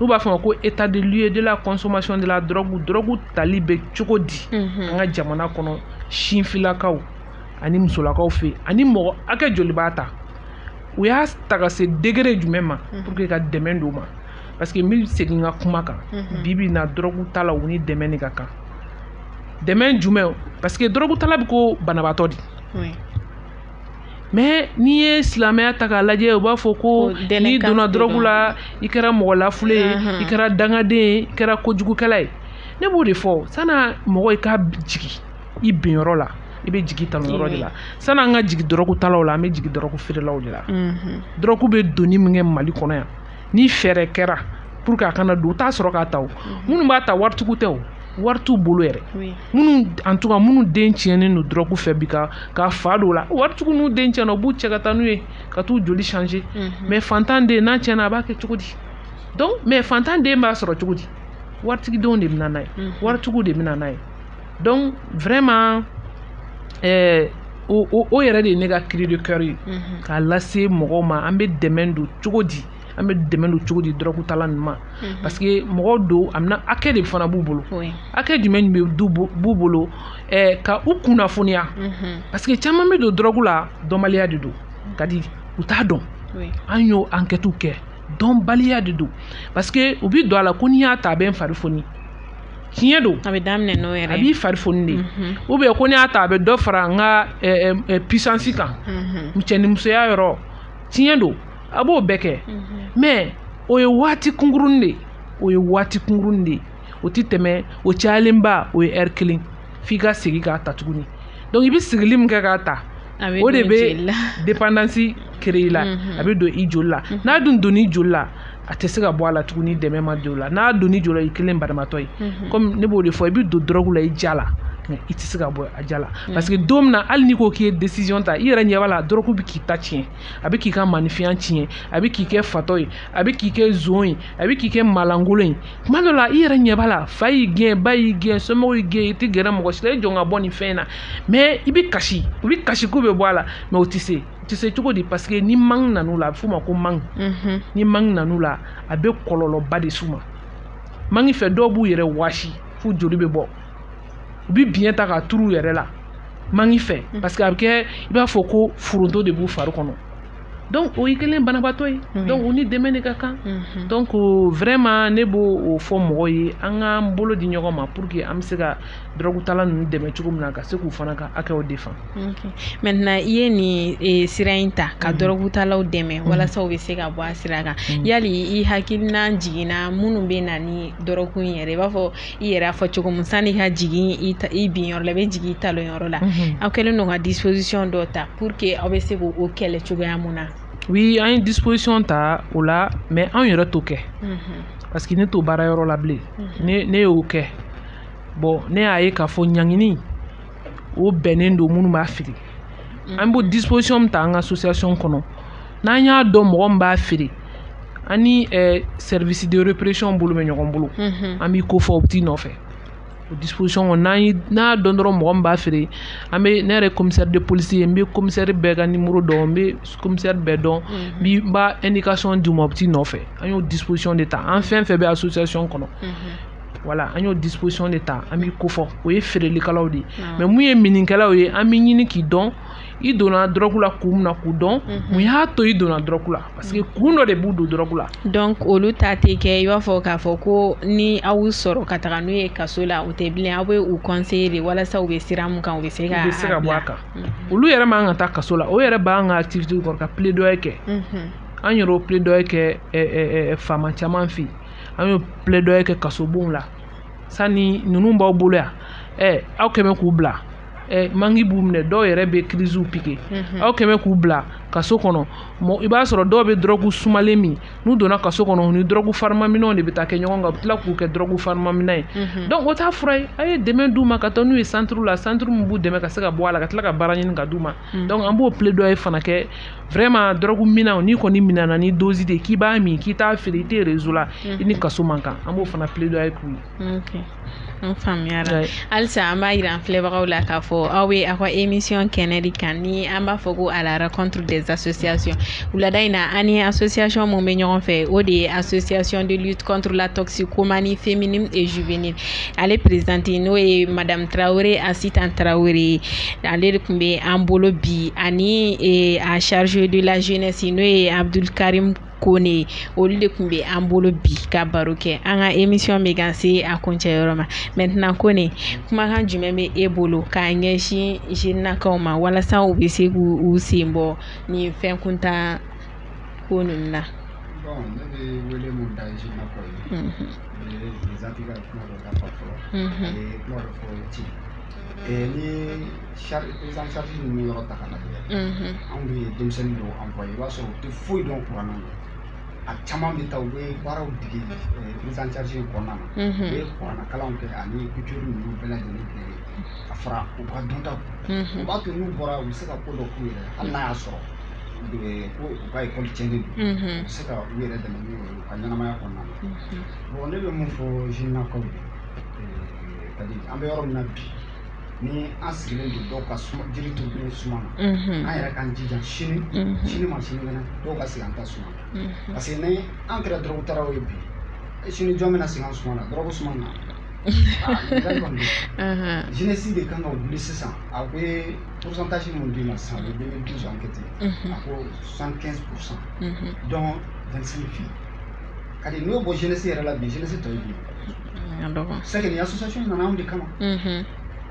n'u b'a fɔ ma ko état des lieux de la consommation de la drogue drogue tali bɛ cogo di an ka jamana kɔnɔ sifinnakaw ani musolakaw fɛ ani mɔgɔ hakɛ joli b'a ta u y'a ta ka se degré jumɛn ma pour que ka dɛmɛ d'u ma parce que n bɛ segin n ka kuma kan bi bi in na drogue tala u ni dɛmɛ de ka kan dɛmɛ jumɛn parce que drogue tala bɛ ko banabaatɔ de mais n'i ye silamɛya ta k'a lajɛ u b'a fɔ ko n'i donna dɔrɔgu la i kɛra mɔgɔ lafulen ye i kɛra dangaden ye i kɛra kojugukɛla ye ne b'o de fɔ sani mɔgɔ i ka jigi i binyɔrɔ la i bɛ jigi talonyɔrɔ de la san'an ka jigi dɔrɔgu talaw la an bɛ jigi dɔrɔgu feerelaw de la dɔrɔgu bɛ donni min kɛ mali kɔnɔ yan ni fɛɛrɛ kɛra pour que a kana don u t'a sɔrɔ k'a ta o mhm. minnu b'a ta waritigiw tɛ o wari t'u bolo yɛrɛ minnu en tout cas minnu den tiɲɛnen don dɔrɔgu fɛ bi ka ka fa don u la waritigiw n'u den tiɲɛna u b'u cɛ ka taa n'u ye ka t'u joli changer mhm. mais fantan den n'a tiɲɛna a b'a kɛ cogo di donc mais fantan den b'a sɔrɔ cogo di waritigidenw de bɛ na n'a ye mhm. waritigiw de bɛ na n'a ye donc vraiment euh, o, o, o yɛrɛ de ye ne ka cri de cœur ye mm -hmm. k'a lase mɔgɔw ma an bɛ dɛmɛ don cogo di an bɛ dɛmɛ don cogo di dɔrɔgutala ninnu ma mhm. parce que mɔgɔw don a bɛna hakɛ de fana b'u bolo hakɛ jumɛn bɛ b'u bolo eh, ka u kunnafoniya mhm. parce que caman bɛ don dɔrɔgu la dɔnbaliya de don ka di u t'a dɔn an y'o ankɛtiw kɛ dɔnbaliya de don parce que u bɛ don a la ko n'i y'a ta a bɛ n fari foni tiɲɛ don a bɛ daminɛ n'o yɛrɛ a b'i fari foni de ou bien ko n'i y'a ta a bɛ dɔ fara n ka puissance kan cɛnimusoya yɔrɔ tiɲɛ don a b'o bɛɛ kɛ mais o ye waati kunkurunnin de ye o ye waati kunkurunnin de ye o tɛ tɛmɛ o cayalenba o ye heure kelen f'i ka segin k'a ta tuguni donc i bɛ seginni min kɛ k'a ta o de bɛ dépendance créer la mhm. a bɛ don i joli la mhm. n'a dun donn'i joli la a tɛ se ka bɔ a la tugun ni dɛmɛ ma don o la n'a donn'i joli la i kɛlen banabaatɔ ye mhm. comme ne b'o de fɔ i bɛ don dɔrɔgu la i ja la mais i tɛ se ka bɔ a ja la parce que don min na hali n'i ko k'i ye décision ta i yɛrɛ ɲɛ b'a la dɔrɔgu bɛ k'i ta tiɲɛ a bɛ k'i ka maanifinya tiɲɛ a bɛ k'i kɛ fatɔ ye a bɛ k'i kɛ zon ye a bɛ k'i kɛ maalankolon ye tuma dɔ la i yɛrɛ ɲɛ b'a la fa y'i gɛn ba y'i gɛn somɔgɔw y'i gɛn i tɛ gɛrɛ mɔgɔ si la i jɔ ka bɔ nin fɛn in na mais i bɛ kasi u bɛ kasi k'u bɛ bɔ a la mais o tɛ se o tɛ se cogo di parce que ni manque nan'u la a bɛ f'o ma ko manque mhm. ni manque nan'u la a bɛ kɔlɔlɔba de s'u ma manque fɛ dɔw b'u yɛrɛ waasi f'u joli bɛ bɔ u bɛ biɲɛ ta k'a turu u yɛrɛ la manque fɛ mhm. parce que a bɛ kɛ i b'a fɔ ko foronto de b'u fari kɔnɔ donc o y'i kɛlen banabaatɔ ye donc u ni dɛmɛ de ka kan donc vraiment ne b'o fɔ mɔgɔ ye an k'an bolo di ɲɔgɔn ma pour que an bɛ se ka dɔrɔgutala ninnu dɛmɛ cogo min na ka se k'u fana ka hakɛw défendre maintenant i ye nin sira in ta ka dɔrɔgutalaw dɛmɛ walasa u bɛ se ka bɔ a sira kan yali i hakilina jiginna minnu bɛ na ni dɔrɔgu in yɛrɛ i b'a fɔ i yɛrɛ y'a fɔ cogo min sani ka jigin i ta i bin yɔrɔ la i bɛ jigin i talon yɔrɔ la mhm. aw kɛlen don ka disposition dɔ ta pour que aw bɛ se k'o kɛlɛ cogoya mun na oui an ye disposition ta o la mais anw yɛrɛ t'o kɛ mhm. parce que ne t'o baara yɔrɔ la bilen mhm. ne ne y'o kɛ bon ne y'a ye k'a fɔ ɲangini o bɛnnen don minnu b'a feere mm. an b'o disposition min ta an ka association kɔnɔ n'an y'a dɔn mɔgɔ min b'a feere an ni eh, service de répression bolo bɛ ɲɔgɔn bolo mm-hmm. an b'i kofɔ u bɛ t'i nɔfɛ o disposition kɔnɔ n'an ye n'an y'a dɔn dɔrɔn mɔgɔ min b'a feere an bɛ ne yɛrɛ commissaire de police ye n bɛ commissaire bɛɛ ka numéro dɔn n bɛ commissaire bɛɛ dɔn n bɛ n b'a indication d'u ma u bɛ t'i nɔfɛ an y'o disposition de ta an fɛn fɛn bɛ association kɔnɔ. voilà an y'o disposition de ta an b'i kofɔ o ye feerelikɛlaw de ye ah. mais min ye minnikɛlaw ye an bɛ ɲini k'i dɔn i donna dɔrɔgu la kun min na k'o dɔn mhm. mun y'a to i donna dɔrɔgu la parce que kun dɔ de b'u don dɔrɔgu la donc olu ta tɛ kɛ i b'a fɔ k'a fɔ ko ni aw sɔrɔ ka taga n'u ye kaso la o tɛ bilen aw bɛ u conseiller de walasa u bɛ sira min kan u bɛ se ka u bɛ se ka bɔ a kan mhm. olu yɛrɛ man ka taa kaso la o yɛrɛ b'an ka activité kɔnɔ ka plaidoyer kɛ mhm. an yɛrɛ y'o plaidoyer kɛ faama caman fɛ yen an y'o plaidoyer kɛ kasobonw la sani ninnu b'aw bolo yan ɛ aw kɛ bɛ k'u bila ɛ manque b'u minɛ dɔw yɛrɛ bɛ crises piquer mhm. aw kɛ bɛ k'u bila kaso kɔnɔ i b'a sɔrɔ dɔw bɛ dɔrɔgu sumalen min n'u donna kaso kɔnɔ u ni dɔrɔgu farimanminnaw de bɛ taa kɛ ɲɔgɔn kan u bɛ tila k'u kɛ dɔrɔgu farimanminna ye mhm. donc o t'a fura ye a ye dɛmɛ d'u ma ka taa n'u ye centre la centre min b'u dɛmɛ ka se ka bɔ a la ka tila ka baara ɲini ka d'u ma Hmm. donc an b'o plaidoyer fana kɛ vraiment dɔrɔgu minnaw n'i kɔni minɛna ni dosi de k'i b'a min k'i t'a feere i tɛ réseau la hmm. i ni kaso man kan an b'o fana plaidoyer k'u ye. Okay. n faamuyara halisa an b'a yira an filɛbagaw la k'a fɔ aw bɛ aw ka émission kɛnɛ de kan ni an b'a fɔ ko à la rencontre des associations wulada in na an ni association mun bɛ ɲɔgɔn fɛ o de ye association de lutte contre la toxicomanie féminine et juvénile ale présidente n'o ye madamu tarawele asitan tarawele ale de tun bɛ an bolo bi ani e, a chargé de la jeunesse n'o ye abudulikarim kone olu de tun bɛ an bolo bi ka baro kɛ an ka émission bɛ ka se a kuncɛ yɔrɔ ma maintenant kone kumakan jumɛn bɛ e bolo k'a ɲɛsin jenakaw ma walasa u bɛ se k'u sen bɔ nin fɛn kuntan ko ninnu na. Bon, ne bɛ wele mun da jenakaw ye. ni prise en charge ninnu yɔrɔ ta ka lajɛ anw bɛ denmisɛnnin dɔw envoyé i b'a sɔrɔ u tɛ foyi dɔn kuran na a caman bɛ taa u bɛ baaraw dege prise en charge in kɔnɔna na u bɛ kuranna kalanw kɛ ani couture ninnu bɛɛ lajɛlen kɛ ka fara u ka dɔntaw o b'a to n'u bɔra u bɛ se ka ko dɔ k'u yɛrɛ hali n'a y'a sɔrɔ ko u ka ekɔli tiɲɛnen don u bɛ se ka u yɛrɛ dɛmɛ n'u ye ka ɲɛnamaya kɔnɔna na bon ne bɛ mun fɔ jenakaw ye kadi an bɛ yɔrɔ min na bi ni an sigilen don dɔw ka suma jiri turulen suma na an yɛrɛ k'an jija sini sini ma sinikɛnɛ dɔw ka sigi an ta suma na parce que ni an kɛra dɔrɔgu taraw ye bi sini jɔn bɛna sigi an suma na dɔrɔgu suma na jeunesse de kan ka wuli sisan a bɛ pourcentage mun d'i ma sisan o ye 2012 enquête ye a ko 75 pourcent donc 25 fi ka di n'o bɔ jeunesse yɛrɛ la bi jeunesse tɔ ye bi c'est que ni association nana anw de kama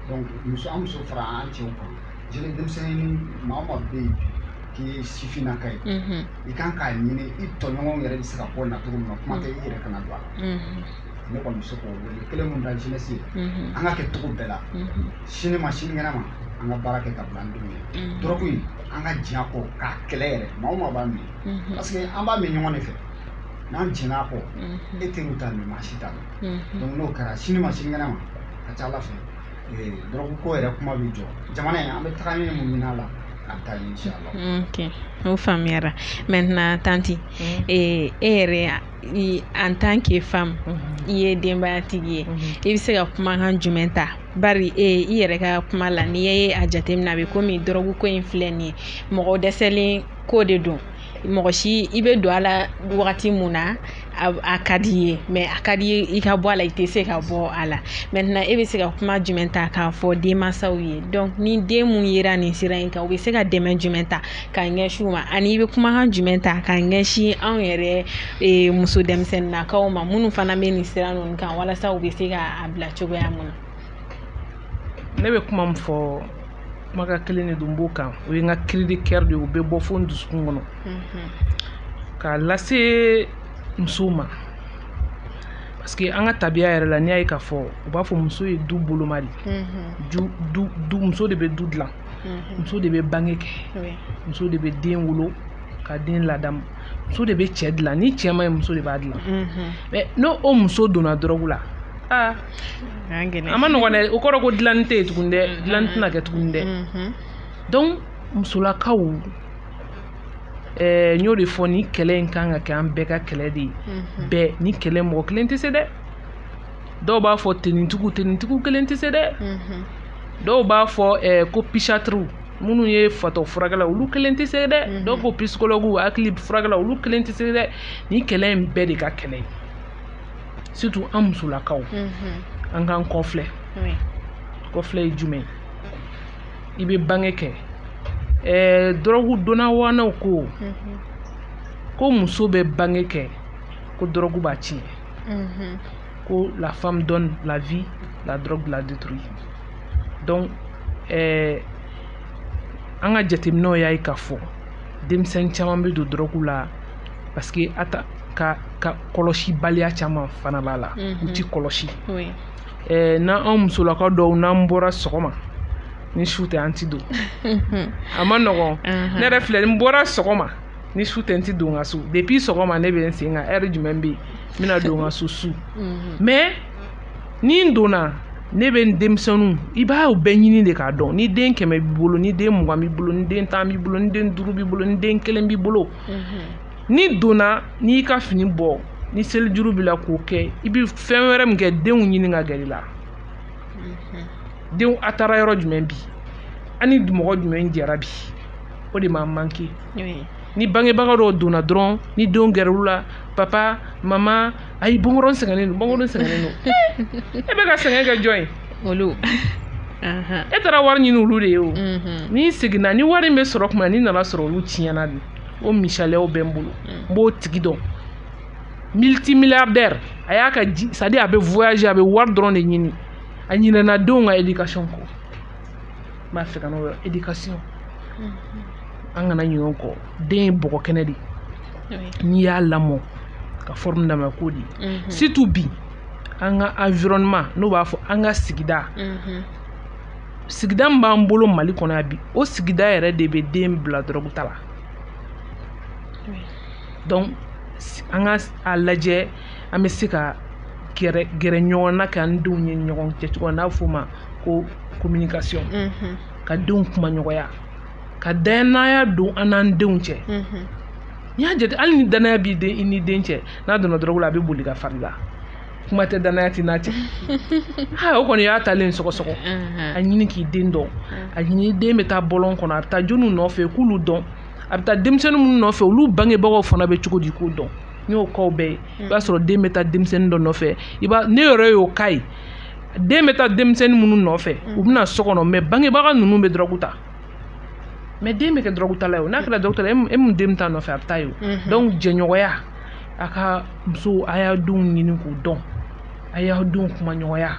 donc muso an muso fara an cɛw kan jeune denmisɛnnin maa o maa bɛ yen k'i ye sifinnaka ye i kan k'a ɲini i tɔɲɔgɔnw yɛrɛ bɛ se ka bɔ na cogo min na kuma tɛ i yɛrɛ kana don a la ne kɔni bɛ se k'o wele kelen mun da jeunesse ye an ka kɛ cogo bɛɛ la sini ma sinikɛnɛ ma an ka baara kɛ ka bila an denw ye dɔrɔgu in an ka jɛn a kɔ k'a kɛlɛ yɛrɛ maa o maa b'a min mhm. parce que an b'a min ɲɔgɔn de fɛ n'an jɛnna a kɔ mhm. e teriw t'a min maa si t'a dɔn mhm. donc n'o kɛra sini ma sinikɛnɛ ma a ka ca ala fɛ dɔrɔgu ko yɛrɛ kuma bɛ jɔ jamana in an bɛ taga ɲɛ mun ɲini a la a bɛ taa ɲɛ inshallah ok o faamuyara maintenant tanti e yɛrɛ en tant que femme i ye denbayatigi ye i bɛ se ka kumakan jumɛn ta bari e i yɛrɛ ka kuma la n'i ye a jateminɛ a bɛ komi dɔrɔgu ko in filɛ nin ye mɔgɔ dɛsɛlen ko de don mɔgɔ si i bɛ don a la wagati mun na a ka di i ye mais a ka di i ye i ka bɔ a la i tɛ se ka bɔ a la maintenant e bɛ se ka kuma jumɛn ta k'a fɔ denmansaw ye donc ni den mun yera nin sira in kan u bɛ se ka dɛmɛ jumɛn ta ka ɲɛsin u ma ani i bɛ kumakan jumɛn ta ka ɲɛsin anw yɛrɛ e, muso denmisɛnninnakaw ma minnu fana bɛ nin sira ninnu kan walasa u bɛ se ka a bila cogoya mun na. ne bɛ kuma min fɔ kumakan kelen de don n b'o kan o ye n ka cri de coeur de ye o bɛ bɔ fo n dusukun kɔnɔ mhm. k'a lase musow ma parce que an ka tabiya yɛrɛ la n'i y'a ye k'a fɔ u b'a fɔ muso ye du boloma de ye mhm. muso de bɛ du dilan mhm. muso de bɛ bange kɛ muso de bɛ den wolo ka den ladamu muso de bɛ cɛ dilan ni cɛ ma ɲɛ muso de b'a dilan mhm. mais n'o muso donna dɔrɔgu la aa a man nɔgɔn dɛ o kɔrɔ ko dilanni tɛ yen tuguni dɛ mhm. dilanni tɛna kɛ tuguni dɛ donc musolakaw ɛɛ n y'o de fɔ nin kɛlɛ in kan ka kɛ an bɛɛ ka kɛlɛ de ye bɛɛ nin kɛlɛ in mɔgɔ kelen tɛ se dɛ dɔw b'a fɔ tenitigiw tenitigiw kelen tɛ se dɛ mhm. dɔw b'a fɔ eh, ko pisatiriw minnu ye fatɔ furakɛla olu kelen tɛ se dɛ mhm. dɔw ko pisikologiw hakili furakɛla olu kelen tɛ se dɛ nin kɛlɛ in bɛɛ de ka kɛlɛ ye surtout an musolakaw mhm. an k'an kɔfilɛ kɔfilɛ ye jumɛn ye i bɛ bange kɛ eh, dɔrɔgu dɔnna ŋanaw ko ko muso bɛ bange kɛ ko dɔrɔgu b'a tiɲɛ Mhm. Ko la femme donne la vie, la drogue la détruit. Donc, eh, an ka jateminɛw y'a ye k'a fɔ denmisɛn caman bɛ don dɔrɔgu la parce que a ta ka ka kɔlɔsibaliya caman fana b'a la u ti kɔlɔsi eh, n'an anw musolakaw dɔw n'an bɔra sɔgɔma ni su tɛ an ti don a man nɔgɔn ne yɛrɛ filɛ ni n bɔra sɔgɔma ni su tɛ n ti don n ka so depuis sɔgɔma ne bɛ n sen kan heure jumɛn bɛ yen n bɛna don n ka so su mhm. mais ni n donna ne bɛ n denmisɛnninw i b'a u bɛɛ ɲini de k'a dɔn ni den kɛmɛ b'i bolo ni den mugan b'i bolo ni den tan b'i bolo ni den duuru b'i bolo ni den kelen b'i bolo mhm. n'i donna n'i y'i ka fini bɔ ni selijuru b'i la k'o kɛ i bɛ fɛn wɛrɛ min kɛ denw ɲini ka gɛrɛ i la mhm. denw a taara yɔrɔ jumɛn bi a ni mɔgɔ jumɛn jɛra bi o de ma manke ni bangebaga dɔw donna dɔrɔn ni denw gɛrɛl'u la papa mama ayi bɔ n kɔrɔ sɛgɛnnen don bɔ n kɔrɔ sɛgɛnnen don e bɛ ka sɛgɛn kɛ jɔn ye olu e taara wari ɲini olu de ye o mhm. n'i seginna ni wari in bɛ sɔrɔ kuma n'i nana sɔrɔ olu tiɲɛna de o misaliyaw bɛ n bolo n b'o tigi dɔn multimilliardaire a y'a ka c'est à dire a bɛ voyager a bɛ wari dɔrɔn de ɲini a ɲinɛna denw ka éducation kɔ n b'a fɛ kan'o éducation an kana ɲinɛ o kɔ den ye bɔgɔ kɛnɛ de n'i y'a lamɔ ka forme d'a ma k'o de surtout bi an ka environnement n'o b'a fɔ an ka sigida sigida min b'an bolo mali kɔnɔ yan bi o sigida yɛrɛ de bɛ den bila dɔrɔgu ta la donc an ka a lajɛ an bɛ se ka gɛrɛ ɲɔgɔn na k'an denw ye ɲɔgɔn cɛ cogo n'a f'o ma ko communication ka denw kuma ɲɔgɔnya ka danaya don an n'an denw cɛ n'i y'a jate hali ni danaya b'i den i ni den cɛ n'a donna dɔrɔgu la a bɛ boli ka far'i la kuma tɛ danaya t'i n'a cɛ aa o kɔni y'a talen sɔgɔsɔgɔ a ɲini k'i den dɔn a ɲini den bɛ taa bɔlɔn kɔnɔ a bɛ taa jɔnw nɔfɛ k'olu dɔn a bɛ taa denmisɛnnin minnu nɔfɛ olu bangebagaw fana bɛ cogo di k'o dɔn n y'o cas bɛɛ ye i b'a sɔrɔ den bɛ taa denmisɛnnin dɔ nɔfɛ i ne yɛrɛ y'o cas ye den bɛ taa denmisɛnnin minnu nɔfɛ u bɛna so kɔnɔ mais bangebaga ninnu bɛ dɔrɔgu ta mais den bɛ kɛ dɔrɔgutala ye n'a kɛra dɔrɔgutala e mun den bɛ taa nɔfɛ a bɛ taa ye donc jɛɲɔgɔnya a ka musow a y'aw denw ɲini k'u dɔn a y'aw denw kuma ɲɔgɔnya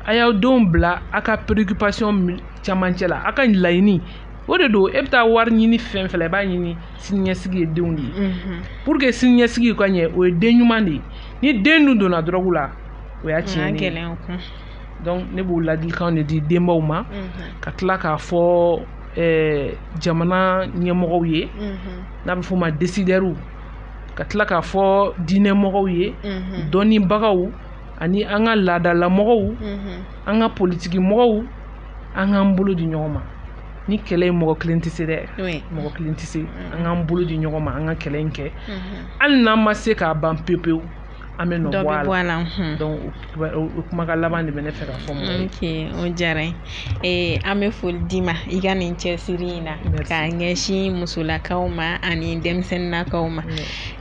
a y'aw denw bila a ka préoccupation camancɛ la a ka laɲini o de don e bɛ taa wari ɲini fɛn fɛ i b'a ɲini siniɲɛsigi ye denw de ye pour que siniɲɛsigi ka ɲɛ o ye den ɲuman de ye ni den dun donna dɔrɔgu la o y'a tiɲɛnen ye donc ne b'o ladilikan de di denbaw ma ka tila k'a fɔ eh, jamana ɲɛmɔgɔw ye n'a bɛ f'o ma décideurs ka tila k'a fɔ diinɛmɔgɔw ye dɔnnibagaw ani an ka laadalamɔgɔw an ka politikimɔgɔw an k'an bolo di ɲɔgɔn ma ni kɛlɛ ye mɔgɔ kelen tɛ se dɛ mɔgɔ kelen tɛ se an k'an bolo di ɲɔgɔn ma an ka kɛlɛ in kɛ hali n'an ma se k'a ban pewu pewu an bɛ dɔ bɔ a la, la hmm. donc o kumakan laban de bɛ ne fɛ ka fɔ mɔgɔw ye. ok o diyara n ye ee, an bɛ foli d'i ma i ka nin cɛsiri in na k'a ɲɛsin musolakaw ma ani denmisɛnninnakaw ma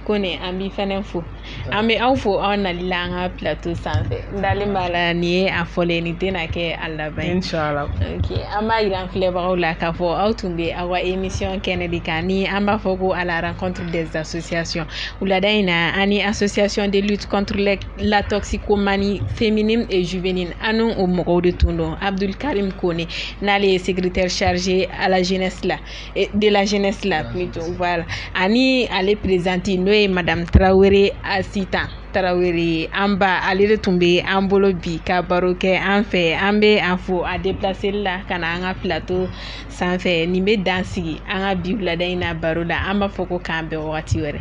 kɔni an b'i fɛnɛ fo an bɛ aw fo aw nali la an ka plateau sanfɛ n dalen b'a la nin ye a fɔlɔ ye nin tɛna kɛ a laban ye. inshallah ok an b'a jira an filɛbagaw la k'a fɔ aw tun bɛ aw ka émission kɛnɛ de kan ni an b'a fɔ ko à la rencontre des associations. Wulada in na an ni association de lutte contre la toxicomanie féminine et juvénile an n'o mɔgɔw de tun don Abdul Karim Kone n'ale ye secrétaire chargé à la jeunesse la de la jeunesse la plutôt voilà ani ale présidente n'o ye madame Traoré Asitan Tarawele an ba ale de tun bɛ an bolo bi ka baro kɛ an fɛ an bɛ a fo a depilaseli la ka na an ka plateau sanfɛ nin bɛ dan sigi an ka bi wulada in na baro la an b'a fɔ ko k'an bɛn wagati wɛrɛ